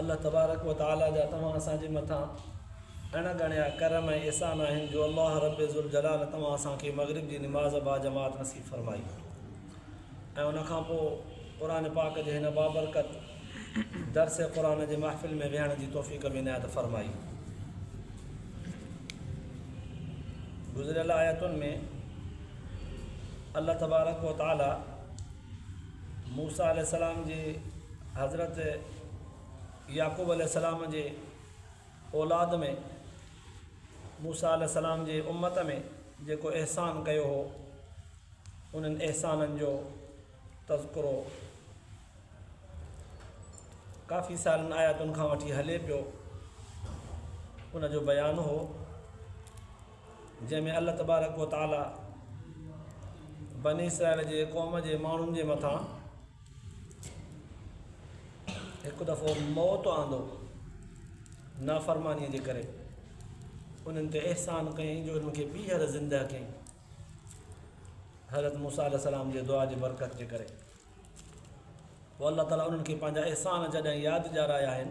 الله تبارڪ و تعاليٰ جا توهان اسان جي مٿان اڻ ڳڻيا ڪرم ۽ احسان آهن جو الله رب ذوالجلال توهان اسان کي مغرب جي نماز باجماعت نصيب فرمائي ۽ ان کان پوء قرآن پاڪ جي هن بابرڪت درس قرآن جي محفل ۾ ويهڻ جي توفيق به عنايت فرمائي گذريل آيتن ۾ الله تبارڪ و تعاليٰ موسيٰ عليه السلام جي حضرت يعقوب عليه السلام جي اولاد ۾ موسيٰ عليه السلام جي امت ۾ جيڪو احسان ڪيو هو انهن احسانن جو تذڪرو ڪافي سارن آياتن کان وٺي هلي پيو ان جو بيان هو جنهن ۾ الله تبارڪ و تعاليٰ بني اسرائيل جي قوم جي ماڻهن جي مٿان هڪ دفعو موت آندو نافرمانيء جي ڪري انهن تي احسان ڪيائين جو انهن کي ٻيهر زندهه ڪيائين حضرت موسيٰ عليه السلام جي دعا جي برڪت جي ڪري پوء الله تعاليٰ انهن کي پنهنجا احسان جڏهن ياد ڏيارايا آهن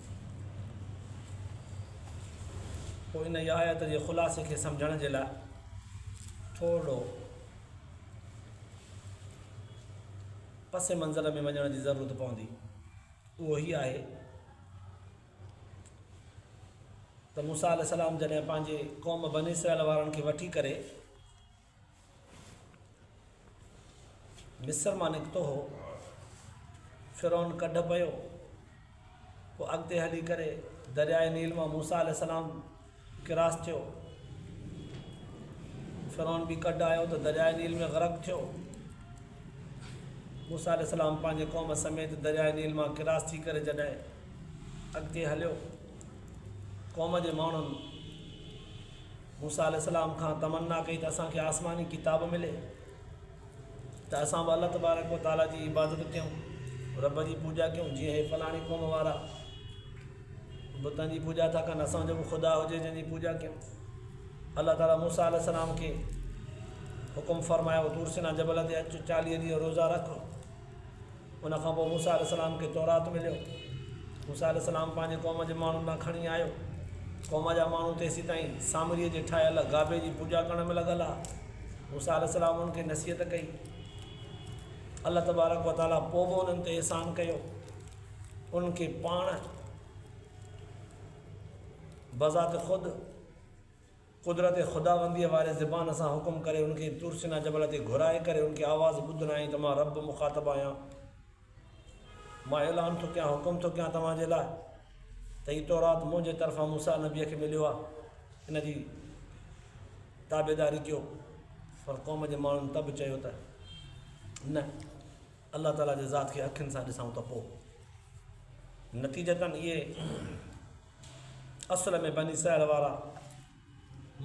پوء ان جي آيت جي خلاصي کي سمجهڻ جي لاء ٿورڙو پس منظر ۾ وڃڻ جي ضرورت پوندي اهو هي آهي ته موسيٰ عليه السلام جڏهن پنهنجي قوم بني اسرائيل وارن کي وٺي ڪري مصر مان نڪتو هو، فرعون ڪڍ پيو، پوء اڳتي هلي ڪري درياء نيل مان موسيٰ عليه السلام ڪراس ٿيو، فرعون به ڪڍ آيو ته درياء نيل ۾ غرق ٿيو، موسيٰ عليه السلام پنهنجي قوم سميت درياء نيل مان ڪراس ٿي ڪري جڏهن اڳتي هليو، قوم جي ماڻهن موسيٰ عليه السلام کان تمنا ڪئي ته اسان کي آسماني ڪتاب ملي ته اسان به الله تبارڪ و تعالي جي عبادت ڪيون رب جي پوڄا ڪيون جيئن هي فلاڻي قوم وارا بتن جي پوڄا ٿا ڪن اسان جو به خدا هجي جنهن جي پوڄا ڪيون الله تعالي موسيٰ عليه السلام کي حڪم فرمايو تورسنا جبل تي اچ چاليهه ڏينهن روزا رک ان کان پوء موسيٰ عليه السلام کي تورات مليو. موسيٰ عليه السلام پنهنجي قوم جي ماڻهن ڏانهن کڻي آيو. قوم جا ماڻهو تيسيتائين سامريء جي ٺاهيل گابي جي پوڄا ڪرڻ ۾ لڳل ها. موسيٰ عليه السلام انهن کي نصيحت ڪئي. الله تبارڪ و تعاليٰ پوء به انهن تي احسان ڪيو. انهن کي پاڻ بذات خود قدرت خداونديء واري زبان سان حڪم ڪري ان کي طور سينا جبل تي گهرائي ڪري ان کي آواز ٻڌرائين ته مان رب مخاطب آهيان، مان اعلان ٿو ڪيان، حڪم ٿو ڪيان توهان جي لاء ته هي تورات منهنجي طرفان موسيٰ نبيء کي مليو آهي، ان جي تابعداري ڪيو. پر قوم جي ماڻهن ته به چيو ته، نه، الله تعاليٰ جي ذات کي اکين سان ڏسائون ته پوء. نتيجتاً اهي اصل ۾ بني اسرائيل وارا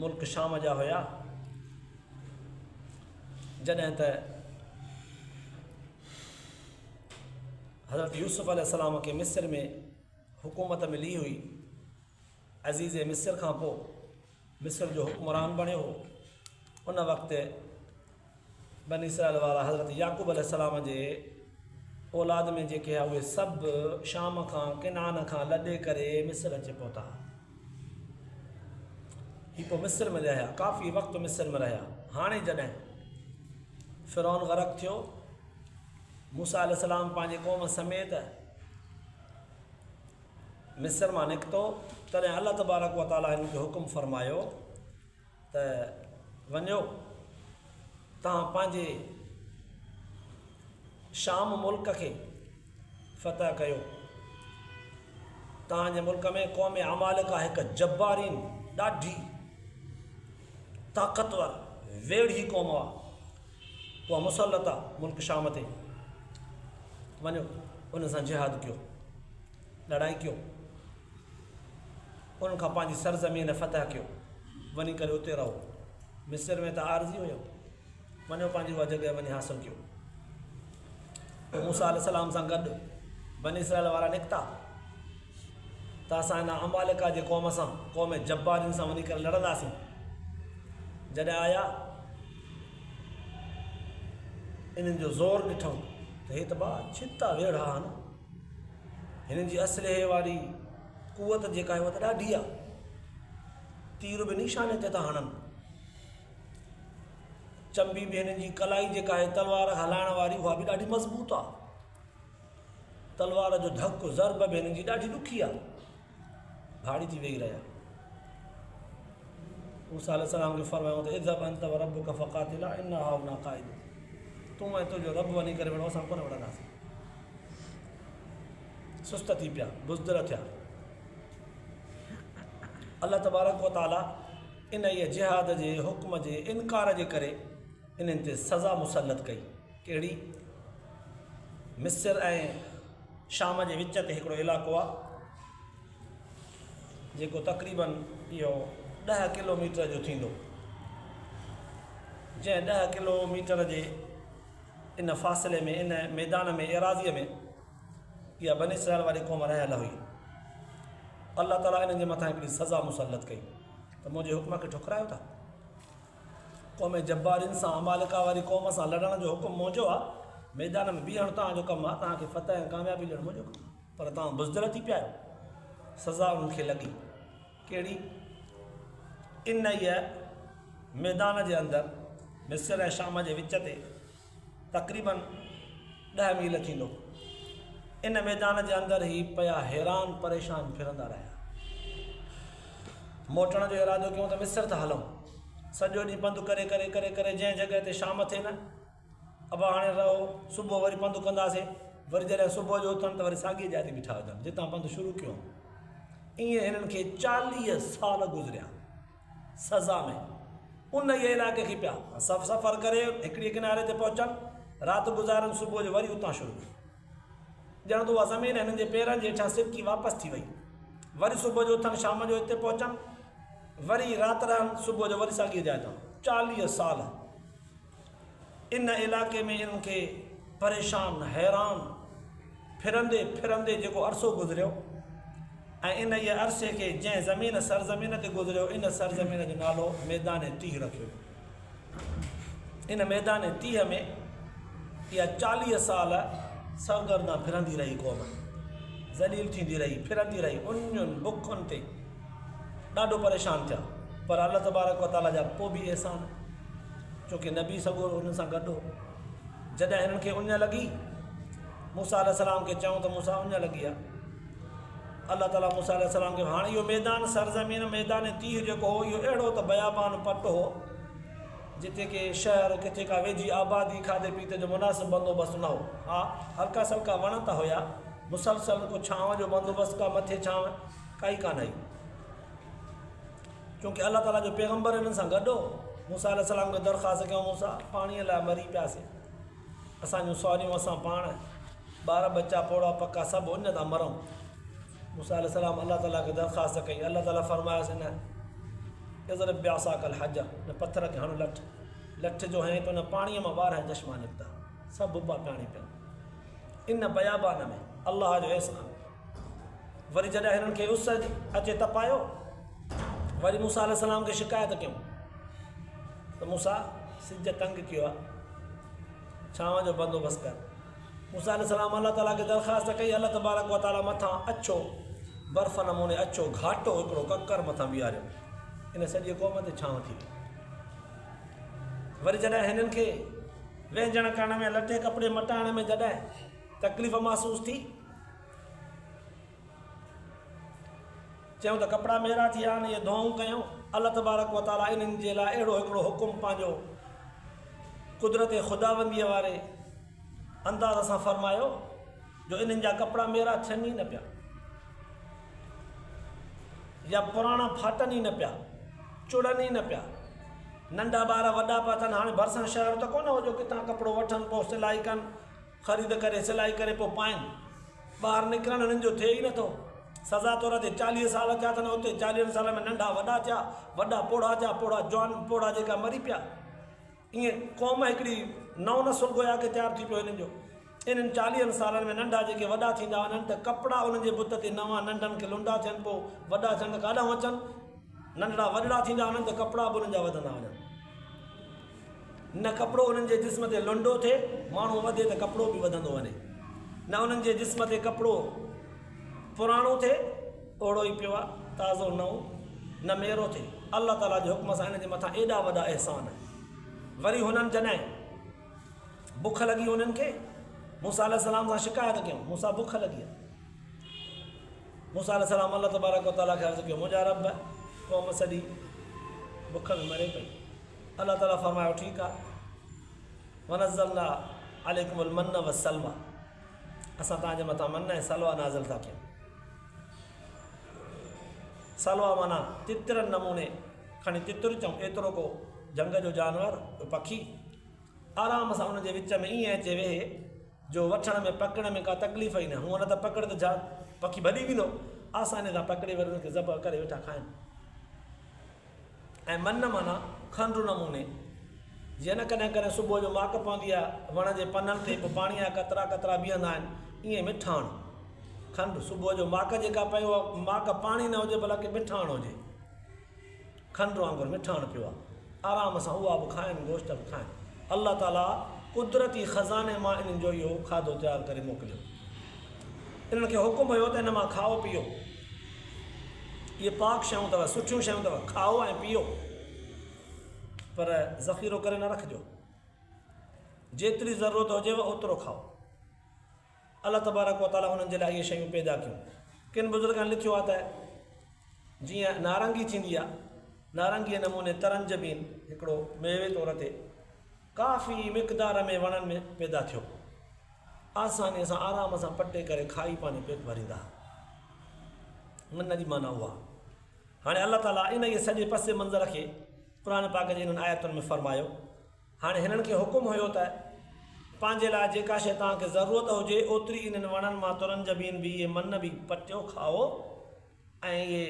ملڪ شام جا هيا جڏهن ته حضرت يوسف عليه السلام کي مصر ۾ حڪومت ملي هئي عزيز مصر کان پوء مصر جو حڪمران بڻيو هو ان وقت بني اسرائيل وارا حضرت يعقوب عليه السلام جي اولاد ۾ جيڪي هئا اهي سڀ شام کان ڪنان کان لڏي ڪري مصر اچي پهتا هي پوء مصر ۾ رهيا ڪافي وقت مصر ۾ رهيا هاڻي جڏهن فرعون غرق ٿيو موسا عليه السلام پنهنجي قوم سميت مصر مان نڪتو، تڏهن الله تبارڪ و تعاليٰ هن کي حڪم فرمايو ته وڃو توهان پنهنجي شام ملڪ کي فتح ڪيو توهان جي ملڪ ۾ قوم عمالڪ آهي هڪ جبارين ڏاڍي طاقتور ويڙهي قوم آهي اها مسلط آ ملڪ شام تي وڃو انهن سان جهاد ڪيو لڙائي ڪيو انهن کان پنهنجي سرزمين فتح ڪيو وڃي ڪري اتي رهو مصر ۾ ته عارضي هيو وڃو پنهنجي اها جڳهه وڃي حاصل ڪيو موسيٰ عليه السلام سان گڏ بني اسرائيل وارا نڪتا ته اسان هن عمالقه جي قوم سان، قوم جبارين سان وڃي ڪري لڙنداسين. جڏهن آيا انهن جو زور ڏٺم ته هي ته ٻا ڇتا ويڙها آهن. هنن جي اسلحي واري قوت جيڪا آهي اها ته ڏاڍي آهي. تير به نيشاني تي ٿا هڻن. چنبي به هنن جي ڪلائي جيڪا آهي تلوار هلائڻ واري اها به ڏاڍي مضبوط آهي تلوار جو ڌڪ ضرب به هنن جي ڏاڍي ڏکي آهي ڀاڙي ٿي ويهي رهيا موسا عليه السلام کي فرمايو ته اذهب انت وربك فقاتلا ان هاهنا قائد تون ۽ تنهنجو رب وڃي ڪري وڙو اسان ڪونه وڙنداسين سست ٿي پيا بزدل ٿيا الله تبارڪ وتعاليٰ انهيء جهاد جي حڪم جي انڪار جي ڪري انهن تي سزا مسلط ڪئي. ڪهڙي؟ مصر ۽ شام جي وچ تي هڪڙو علائقو آهي، جيڪو تقريباً اهو ڏهه ڪلو ميٽر جو ٿيندو، جنهن ڏهه ڪلو ميٽر جي ان فاصلي ۾ ان ميدان ۾ ايراضيء ۾ اها بني اسرائيل واري قوم رهيل هئي. الله تعاليٰ انهن جي مٿان هڪڙي سزا مسلط ڪئي. ته منهنجي حڪم کي ٺڪرايو ٿا. قوم جبارين سان، عمالقه واري قوم سان، لڙڻ جو حڪم منهنجو آ. ميدان ۾ بيهڻ توهان جو ڪم آ. توهان کي فتح ۽ ڪاميابي ڏيڻ منهنجو ڪم آ. پر توهان بزدل ٿي پيا آهيو. سزا انهن کي لڳي. ڪهڙي؟ انهيء ميدان جي اندر، مصر ۽ شام جي وچ تي، تقريبن ڏهه ميل ٿيندو. ان ميدان جي اندر هي پيا حيران پريشان ڦرندا رهيا. موٽڻ جو ارادو ڪيون ته مصر ٿا هلون. سڄو ڏينهن پنڌ ڪري ڪري ڪري ڪري جنهن جڳهه تي شام ٿي نه، ابا هاڻي رهو، صبح وري پنڌ ڪنداسين. وري جڏهن صبح جو اٿن ته وري ساڳيء جاء تي بيٺا هجن، جتان پنڌ شروع ڪيون. ائين هنن کي چاليهه سال گذريا. سزا ۾ انهيء علائقي کي پيا سف سفر ڪري هڪڙيء ڪناري تي پهچن، رات گذارن صبح جو وري اتان شروع ڪن. ڄڻ ته اها زمين هنن جي پيرن جي هيٺان سرڪي واپس ٿي وئي. وري صبح جو اٿن شام جو هتي پهچن وري رات رهن صبح جو وري ساڳيء جاء تان چاليهه سال. ان علائقي ۾ انهن کي پريشان حيران ڦرندي ڦرندي جيڪو عرصو گذريو ۽ انهيء عرصي کي جنهن زمين سرزمين تي گذريو ان سرزمين جو نالو ميدان تيهه رکيو ويو. ان ميدان تيهه ۾ اها چاليهه سال سرگردان ڦرندي رهي قوم ذليل ٿيندي رهي ڦرندي رهي انهن بکن تي ڏاڍو پريشان ٿيا پر الله تبارڪ وتعاليٰ جا پوء به احسان ڇو ڪي نبي سڳورو هنن سان گڏ هو. جڏهن هنن کي اڃ لڳي، موسيٰ عليه السلام کي چئون ته موسيٰ اڃ لڳي آ. الله تعالي موسيٰ عليه السلام کي هاڻ اهو ميدان سرزمين ميدان تيه جيڪو هو اهو اهڙو ته بيابان پٽ هو جتي ڪي شهر ڪٿي ڪا ويجهي آبادي کاڌي پيتي جو مناسب بندوبست نه هو. ها هلڪا سلڪا وڻ ته هيا مسلسل ڪو ڇانو جو بندوبست ڪا مٿي ڇانو ڪائي ڪانه هئي. چونڪه الله تعاليٰ جو پيغمبر انهن سان گڏ هو. موسيٰ عليه السلام کي درخواست ڪيائون، موسيٰ! پاڻيء لاء مري پياسين. اسان جون سواريون، اسان پاڻ، ٻار ٻچا، پوڙها پکا سڀ اڃ ٿا مرون. موسيٰ عليه السلام الله تعاليٰ کي درخواست ڪئي. الله تعاليٰ فرمايس نه، اضرب بعصاك الحجر، هن پٿر کي هڻ لٺ. لٺ جو هنئين ته ان پاڻيء مان ٻارهن چشما نڪتا. سڀ ٻپا پاڻي پيا. ان بيابان ۾، الله جو احسان! وري جڏهن هنن کي اس اچي تپايو وري موسيٰ عليه السلام کي شڪايت ڪيون ته موسيٰ سج تنگ ڪيو آ ڇانو جو بندوبست ڪر موسيٰ عليه السلام الله تعاليٰ کي درخواست ڪئي الله تبارڪ و تعاليٰ مٿان اڇو برف نموني اڇو گهاٽو هڪڙو ڪڪر مٿان بيهاريو ان سڄي قوم تي ڇانو ٿي ويو وري جڏهن هنن کي وهنجڻ ڪرڻ ۾ لٽي ڪپڙي مٽائڻ ۾ جڏهن تڪليف محسوس ٿي چيو ته ڪپڙا ميرا ٿي ويا آهن، اهي ڌوئون ڪيون. الله تبارڪ و تعاليٰ انهن جي لاء اهڙو هڪڙو حڪم پنهنجو قدرت خداونديء واري انداز سان فرمايو جو انهن جا ڪپڙا ميرا ٿين ئي نه پيا يا پراڻا ڦاٽن ئي نه پيا، چڙن ئي نه پيا. ننڍا ٻار وڏا پيا ٿين، هاڻي ڀرسان شهر ته ڪونه هو جو ڪٿان ڪپڙو وٺن، پوء سلائي ڪن. خريد ڪري سلائي ڪري پو پائين ٻاهر نڪرڻ هنن جو ٿئي ئي نٿو سزا طور اچي چاليهه سال ٿيا اٿن اوتي چاليهن سالن ۾ ننڍا وڏا ٿيا وڏا پوڙها ٿيا پوڙها جوان پوڙها جيڪا مري پيا ائين قوم هڪڙي نئون نسل گويا ڪي تيار ٿي پيو هنن جو انهن چاليهن سالن ۾ ننڍا جيڪي وڏا ٿيندا وڃن ته ڪپڙا انهن جي بت تي نوان ننڍن کي لنڊا ٿين پو وڏا ٿين ته ڪاڏانهون اچن ننڍڙا وڏڙا ٿيندا وڃن ته ڪپڙا به انهن جا وڌندا وڃن. نه ڪپڙو انهن جي جسم تي لنڊو ٿئي، ماڻهو وڌي ته ڪپڙو به وڌندو وڃي، نه انهن جي جسم تي ڪپڙو پراڻو ٿئي، اوڙو ئي پيو آهي، تازو نئون، نه ميرو ٿئي، الله تعاليٰ جي حڪم سان انهن جي مٿان ايڏا وڏا احسان، وري هنن جڏهن بک لڳي انهن کي موسيٰ عليه السلام سان شڪايت ڪيون، موسيٰ بک لڳي آهي، موسيٰ عليه السلام الله تبارڪ وتعاليٰ کي عرض ڪيو، منهنجا رب قوم سڄي بک ۾ مري پئي. الله تعالي فرمايو ٺيڪ آ ونزلنا عليكم المن والسلوى اسان تان جي مٿان من ۽ سلوى نازل ٿا ڪيون سلوى مانا تترن نموني کڻي تتر چون ايترو ڪو جنگ جو جانور پکي آرام سان ان جي وچ ۾ ائين اچي ويهي جو وٺڻ ۾ پڪڙ ۾ ڪا تڪليف ئي نه هو نه ته پڪڙ ته جا پکي ڀڄي ويندو آساني سان پڪڙي وري ان کي ذبح ڪري ويٺا کائن ۽ منّ معنيٰ کنڊ نموني جيئن ڪڏهن ڪڏهن صبح جو ماڪ پوندي آهي وڻ جي پنن تي پوء پاڻيء جا قطرا قطرا بيهندا آهن ائين مٺاڻ کنڊ صبح جو ماڪ جيڪا پئي اها ماڪ پاڻي نه هجي بلڪ مٺاڻ هجي کنڊ وانگر مٺاڻ پيو آهي آرام سان اها به کائن گوشت به کائن الله تعاليٰ قدرتي خزاني مان انهن جو اهو کاڌو تيار ڪري موڪليو انهن کي حڪم هيو ته ان مان کائو پيئو اهي پاڪ شيون اٿو، سٺيون شيون اٿو، کائو ۽ پيئو، پر ذخيرو ڪري نه رکجو، جيتري ضرورت هجيو اوترو کائو. الله تبارڪ و تعاليٰ انهن جي لاء اهي شيون پيدا ڪيون. ڪن بزرگن لکيو آهي ته جيئن نارنگي ٿيندي آهي، نارنگيء نموني ترنجبين هڪڙو ميوي طور تي ڪافي مقدار ۾ وڻن ۾ پيدا ٿيو. آسانيء سان آرام سان پٽي ڪري کائي پنهنجو پيٽ ڀريندا هئا ان جي معنيٰ اها هاڻي الله تعاليٰ انهيء سڄي پس منظر کي قرآن پاڪ جي انهن آيتن ۾ فرمايو هاڻي هنن کي حڪم هيو ته پنهنجي لاء جيڪا شيء توهان کي ضرورت هجي اوتري انهن وڻن مان ترن جبين به اهي من به پٽيو کائو ۽ اهي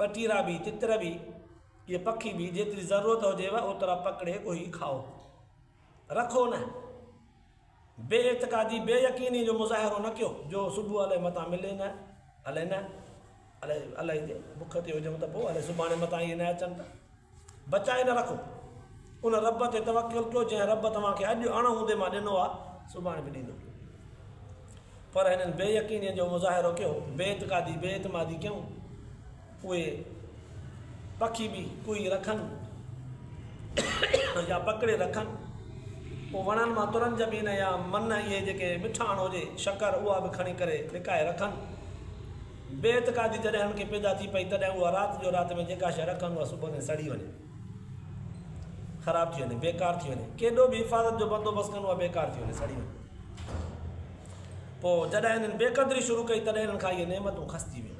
ٻٽيرا به تتر به اهي پکي به جيتري ضرورت هجيو اوترا پڪڙي ڳوهي کائو رکو نه بي اعتقادي بي يقيني جو مظاهرو نه ڪيو جو صبح الائي متان ملي نه الائي نه الائي الائي جي بک تي هجون ته پوء الائي سڀاڻي متان اهي نه اچن ته بچائي نه رکو ان رب تي توڪل ڪيو جنهن رب توهان کي اڄ اڻ هوندي مان ڏنو آ سڀاڻي به ڏيندو پر هنن بي يقيني جو مظاهرو ڪيو بي اعتقادي بي اعتمادي ڪيون اهي پکي به ڪوئي رکن يا پڪڙي رکن. پوء وڻن مان ترن جبين يا من اهي جيڪي مٺاڻ هجي، شڪر، اها به کڻي ڪري لڪائي رکن. بي اعتقادي جڏهن هن کي پيدا ٿي پئي تڏهن اها رات جو رات ۾ جيڪا شيء رکن اها صبح تائين سڙي وڃي، خراب ٿي وڃي، بيڪار ٿي وڃي. ڪيڏو به حفاظت جو بندوبست ڪن اها بيڪار ٿي وڃي، سڙي وڃي. پوء جڏهن هنن بيقدري شروع ڪئي تڏهن هنن کان اهي نعمتون کسجي ويون.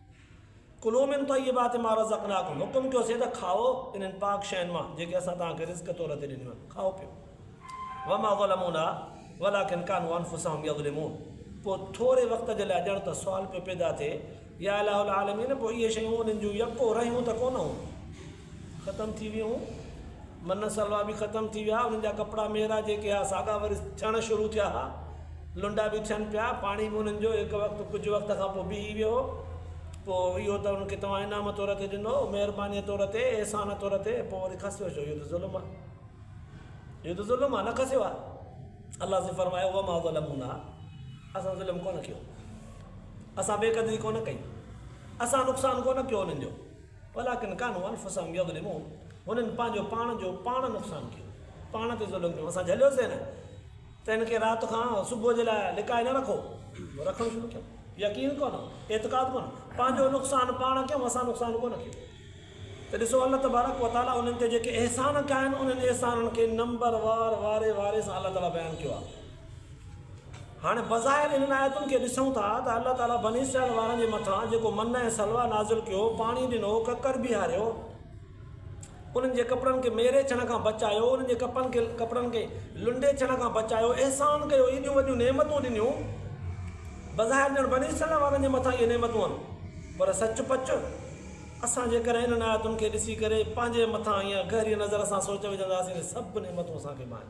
کلو من طيبات ما رزقناکم حڪم ڪيو سي ته کائو انهن پاڪ شين مان جيڪي اسان توهان کي رزق طور تي ڏنيون آهن کائو پيو وما ظلمونا ولكن كانوا انفسهم يظلمون پوء ٿوري وقت جي لاء ڄڻ ته سوال پيو پيدا ٿئي يا اله العالمين پوء اهي شيون انهن جون يڪو رهيون ته ڪونه هون ختم ٿي ويون هون من سلوا به ختم ٿي ويا انهن جا ڪپڙا ميرا جيڪي ها ساڳا وري ٿيڻ شروع ٿيا ها لنڊا به ٿين پيا پاڻي به انهن جو هڪ وقت ڪجهه وقت کان پوء بيهي ويو هو پوء اهو ته انهن کي توهان انعام طور تي ڏنو مهرباني طور تي احسان طور تي پوء وري کسيو ڇو اهو ته ظلم آ اهو ته ظلم آ نه کسيو آ الله سي فرمايو وما ظلمونا اسان ظلم ڪونه ڪيو اسان بي قدري ڪونه ڪئي اسان نقصان ڪونه ڪيو انهن جو ولڪن ڪانو انفسهم يظلمون هنن پنهنجو پاڻ جو پاڻ نقصان ڪيو پاڻ تي ظلم ڪيو اسان جهليوسين نه ته هن کي رات کان صبح جي لاء لڪائي نه رکو رکڻ شروع ڪيو يقين ڪونه اعتقاد ڪونه پنهنجو نقصان پاڻ ڪيو اسان نقصان ڪونه ڪيو ته ڏسو الله تبارڪ وتعاليٰ انهن تي جيڪي احسان ڪيا آهن انهن احسانن کي نمبر وار واري واري سان الله تعاليٰ بيان ڪيو آهي هاڻي بظاهر انهن آيتن کي ڏسون ٿا ته الله تعاليٰ بني اسرائيل وارن جي مٿان جيڪو منّ ۽ سلويٰ نازل ڪيو، پاڻي ڏنو، ڪڪر بيهاريو، انهن جي ڪپڙن کي ميري ڇڻ کان بچايو، انهن جي ڪپڙن کي لنڊي ڇڻ کان بچايو، احسان ڪيو، ايڏيون وڏيون نعمتون ڏنيون، بظاهر ڄڻ بني اسرائيل وارن جي مٿان اهي نعمتون آهن، پر سچ پچ اسان جيڪڏهن انهن آيتن کي ڏسي ڪري پنهنجي مٿان ايئن گهريء نظر سان سوچ وجهنداسين ته سڀ نعمتون اسان کي به آهن.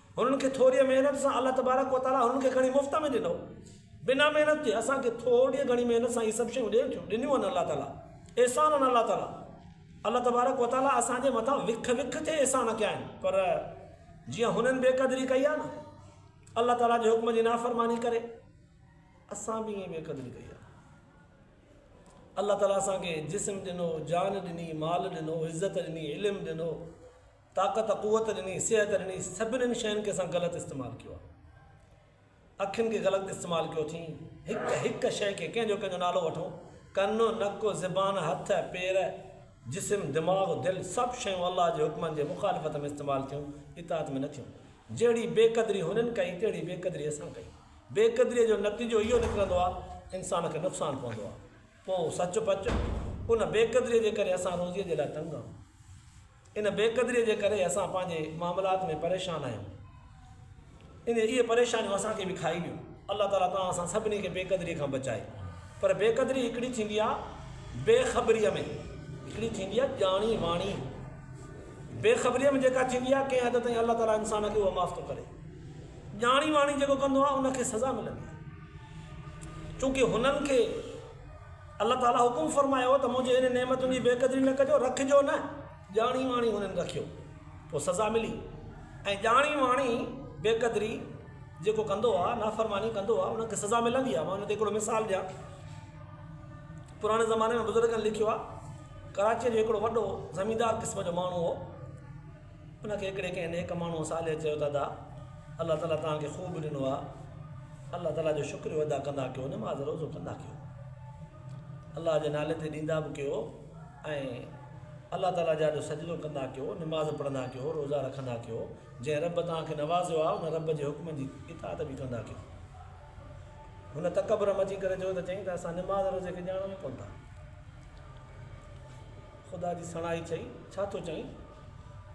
هنن کي ٿوريء محنت سان الله تبارڪ و تعاليٰ هنن کي گهڻي مفت ۾ ڏنو. بنا محنت جي اسان کي ٿورڙيء گهڻي محنت سان هي سڀ شيون ڏين ٿيون، ڏنيون آهن الله تعاليٰ. احسان آهن الله تعاليٰ. الله تبارڪ و تعاليٰ اسان جي مٿان وک وک تي احسان ڪيا آهن. پر جيئن هنن بي قدري ڪئي آهي نه الله تعاليٰ جي حڪم جي نافرماني ڪري، اسان به ائين بي قدري ڪئي آهي. الله تعاليٰ اسان کي جسم ڏنو، جان ڏني، مال ڏنو، عزت ڏني، علم ڏنو. طاقت قوت ڏني صحت ڏني سڀنن شين کي اسان غلط استعمال ڪيو آ اکين کي غلط استعمال ڪيو اٿين هڪ هڪ شي کي ڪنهن جو ڪنهن جو نالو وٺو ڪن نڪ زبان هٿ پير جسم دماغ دل سڀ شيون الله جي حڪمن جي مخالفت ۾ استعمال ٿيون اطاعت ۾ نه ٿيون جهڙي بي قدري هنن ڪئي تهڙي بي قدري اسان ڪئي بي قدري جو نتيجو اهو نڪرندو آ انسان کي نقصان پوندو آ پو سچ پچ ان بي قدري جي ڪري اسان روزي جي لاء تنگ آهون ان بي قدريء جي ڪري اسان پنهنجي معاملات ۾ پريشان آهيون ان اهي پريشانيون اسان کي به کائي ويون الله تعالي توهان اسان سڀني کي بي قدريء کان بچائي پر بي قدري هڪڙي ٿيندي آ بي خبريء ۾ هڪڙي ٿيندي آ ڄاڻي واڻي بي خبريء ۾ جيڪا ٿيندي آ ڪنهن حد تائين الله تعالي انسان کي اهو معاف ٿو ڪري ڄاڻي واڻي جيڪو ڪندو آ ان کي سزا ملندي چونڪه هنن کي الله تعاليٰ حڪم فرمايو ته منهنجي هن نعمتن جي بي قدري نه ڪجو، رکجو نه، ڄاڻي واڻي هنن رکيو، پوء سزا ملي، ۽ ڄاڻي واڻي، بي قدري، جيڪو ڪندو آهي، نافرماني ڪندو آهي، ان کي سزا ملندي آهي، مان ان تي هڪڙو مثال ڏيان، پراڻي زماني ۾ بزرگن لکيو آهي، ڪراچيء جو هڪڙو وڏو زميندار قسم جو ماڻهو هو. ان کي هڪڙي ڪنهن نيڪ ماڻهوء صالح چيو ته ادا الله تعاليٰ توهان کي خوب ڏنو آهي الله تعاليٰ جو شڪريو ادا ڪندا ڪيو نماز روزو ڪندا ڪيو الله جي نالي تي ڏيندا به ڪيو ۽ الله تعاليٰ جا جو سجدو ڪندا ڪيو نماز پڙهندا ڪيو روزا رکندا ڪيو جنهن رب توهان کي نوازيو آهي ان رب جي حڪم جي اطاعت به ڪندا ڪيو هن تڪبر ۾ اچي ڪري چيو ته چئي ته اسان نماز روزي کي ڄاڻو ئي ڪون ٿا خدا جي سڻائي چئي ڇا ٿو چئي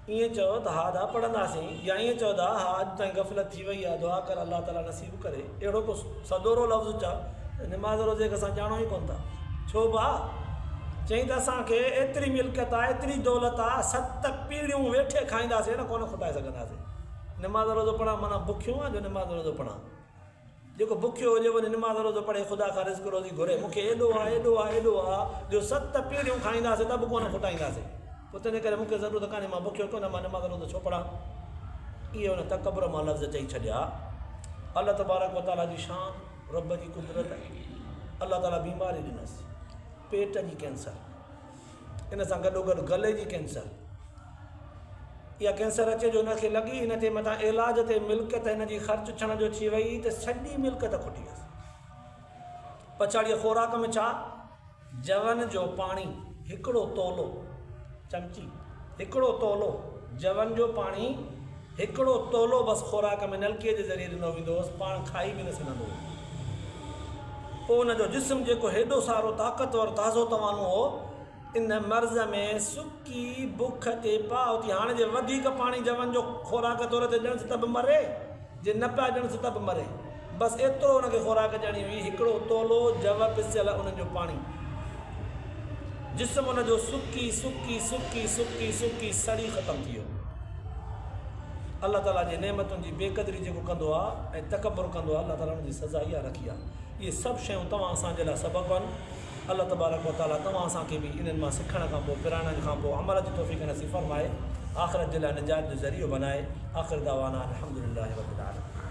ائين چئو ته ها دا پڙهنداسين يا ائين چئو ته ها اڄ تائين غفلت ٿي وئي آهي دعا ڪر الله تعالي نصيب ڪري اهڙو ڪو سدورو لفظ چئه ته نماز روزي کي اسان ڄاڻون ئي ڪونه ٿا ڇو ڀاء چئين ته اسان کي ايتري ملڪيت آهي ايتري دولت آهي ست پيڙهيون ويٺي کائينداسين ڪونه کٽائي سگهنداسين نماز روزو پڙهڻ معنيٰ بکيون آهن جو نماز روزو پڙهان جيڪو بکيو هجي وڃي نماز روزو پڙهي خدا کان رزق روزي گهري مون کي ايڏو آ ايڏو آ ايڏو آ جو ست پيڙهيون کائينداسي ته به ڪونه کوٽائينداسي پوء تنهن ڪري مون کي ضرورت ڪانهي مان بکيو ڪونه مان نماز روزو ڇو پڙهان اهي ان تڪبر مان لفظ چئي ڇڏيا الله تبارڪ وتعاليٰ جي شان رب جي قدرت الله تعاليٰ بيماري ڏنس پيٽ جي ڪينسر ان سان گڏوگڏ گلي جي ڪينسر يا ڪينسر اچي جو هن کي لڳي هن جي مٿان علاج تي ملڪيت هن جي خرچ ٿيڻ جو ٿي وئي ته سڄي ملڪيت کٽي ويس پڇاڙيء خوراڪ ۾ ڇا جون جو پاڻي هڪڙو تولو چمچي هڪڙو تولو جون جو پاڻي هڪڙو تولو بس خوراڪ ۾ نلڪي جي ذريعي ڏنو ويندو هوس، پاڻ کائي به نه سگهندو هو. پوء هن جو جسم جيڪو هيڏو سارو طاقتور تازو توانو هو، ان مرض ۾ سڪي بک تي پاء اٿي هاڻ جي وڌيڪ پاڻي جون جو خوراڪ طور تي ڏنس ته به مري، جي نه پيا ڏنس ته به مري. بس ايترو انهن کي خوراڪ ڏيڻي هئي، هڪڙو تولو جوء پسيل انهن جو پاڻي. جسم ان جو سڪي سڪي سڪي سڪي سڪي سڙي ختم ٿي ويو. الله تعاليٰ جي نعمتن جي بي قدري جيڪو ڪندو آهي ۽ تڪبر ڪندو آهي الله تعاليٰ ان جي سزا اها رکي آهي. اهي سڀ شيون توهان اسان جي لاء سبب آهن. الله تبارڪ و تعاليٰ توهان اسان کي به انهن مان سکڻ کان پوء پراڻن کان پوء عمل جي توفيق نصيب فرمائي، آخرت جي لاء نجات جو ذريعو بنائي. آخر دعوانا ان الحمد لله رب العالمين.